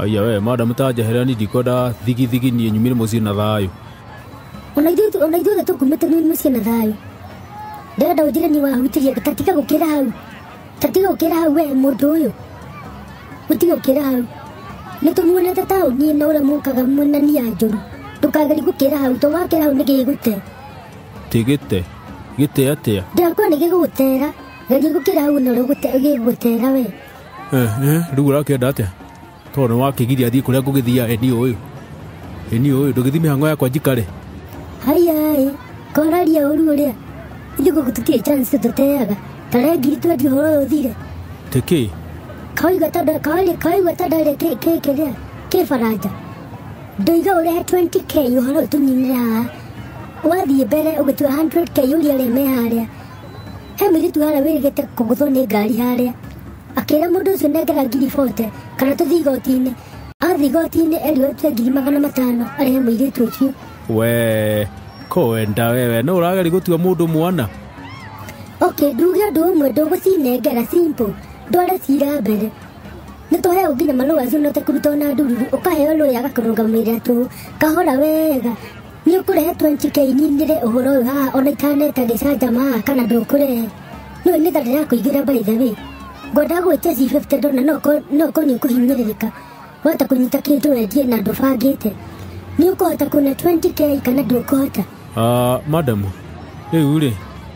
Aya we mada mutanjehera ni ndikwenda thigithigi niĩ nyumire mũciĩ na thayũ ona ithuĩ ona ithuothe tũkumĩte nĩ mũciĩ na thayũ ndĩrenda ũnjĩre nĩ wahutirie tatiga gũkĩra hau tatiga gũkĩra hau we mũndũ ũyũ ũtiga gũkĩra hau nĩ tũmuonete taũni ĩno ũrĩa mũkaga mwena niya njũru ndũkageri gũkĩra hau to wakĩra hau nĩ gĩgũte tĩ gĩte gĩte atĩa ndĩrakuwa nĩ gĩgũgũtera geria gũkĩra hau na ũrĩa ũgũte- gĩgũgũtera we rä u å rakä enda atä tondå nä wakä giria thiä kå rä a ngå gä thia eni å yå eni å yå ndå gä thi mä hango yakwa njikare haiyaĩ koraria ũru ũrĩa ithuĩ gũkũ tũtirĩ chance tũteaga tarengiri twendi ũhoro ũyũ ũthire tä kä kawaigua ta nda- kawaigua- kawaigua ta ndarĩ kĩ- kĩ- kĩrĩa kĩ baranja ndoiga ũrehe 20k ũhoro ũyũ tũninĩra haha wathiĩ mbere ũgĩtua 100k ũria rĩ me harĩa he mũirĩtu harĩa wĩrĩgĩte kũgũthwo nĩ ngari harĩa akĩra mũndũ ũcio nengera ngiri bote kana tũthiĩ igoti-inĩ athiĩ igoti-inĩ erirwo atue ngiri magana matano arĩhe mũirĩtu ũcio we kwenda wewe no ũrageri gũtua mũndũ mwana ok nduge ũndũ ũmwe ndũgũcinengera simple ndware cira mbere nĩ tũheo nginya marũa acio note kũruta ona ndururu ũkaheo rũĩ agakũrũgamĩrĩra tũ kahora wega nĩ ũkũrehetwo njikeininire ũhoro ũyũ haha ona ikaneta gĩcanjama kana ndũkũre nĩ nĩ tha ndĩrakũigĩra by the way ngwenda gwĩtia c50 ndona no ko- no ko nĩ ũkũhinyĩrĩrĩka wahota kũnyita kĩndũ wendie na ndũbangĩte nĩ ũkũhota kuona 20k kana ndũkũhota Ah, madam rĩu rĩ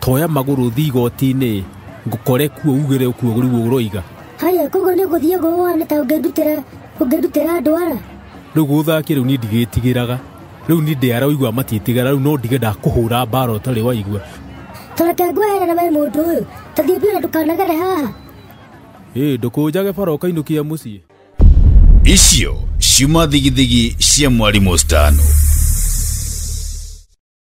toya magũrũ thiĩ igoti-inĩ ngũkore kuo ugĩre kuo rĩu ũroiga haya koguo nĩ gũthiĩ gũwone ta ũngĩndutĩra ũngĩndutĩra andũ ara rĩu gũthakia rĩu niĩ ndigĩtigĩraga rĩu niĩ ndĩ ara ũigua matiĩtigĩra rĩu no ndige ndakũhũra mbara ũtarĩ waigua tũreke ngweherera we mũndũ ũyũ tũthiĩ biũ na ndũkanagere haha ĩĩ ndũkũnjage bara ũkainũkia mũciĩ icio ciuma thigithigi cia mwarimũ stano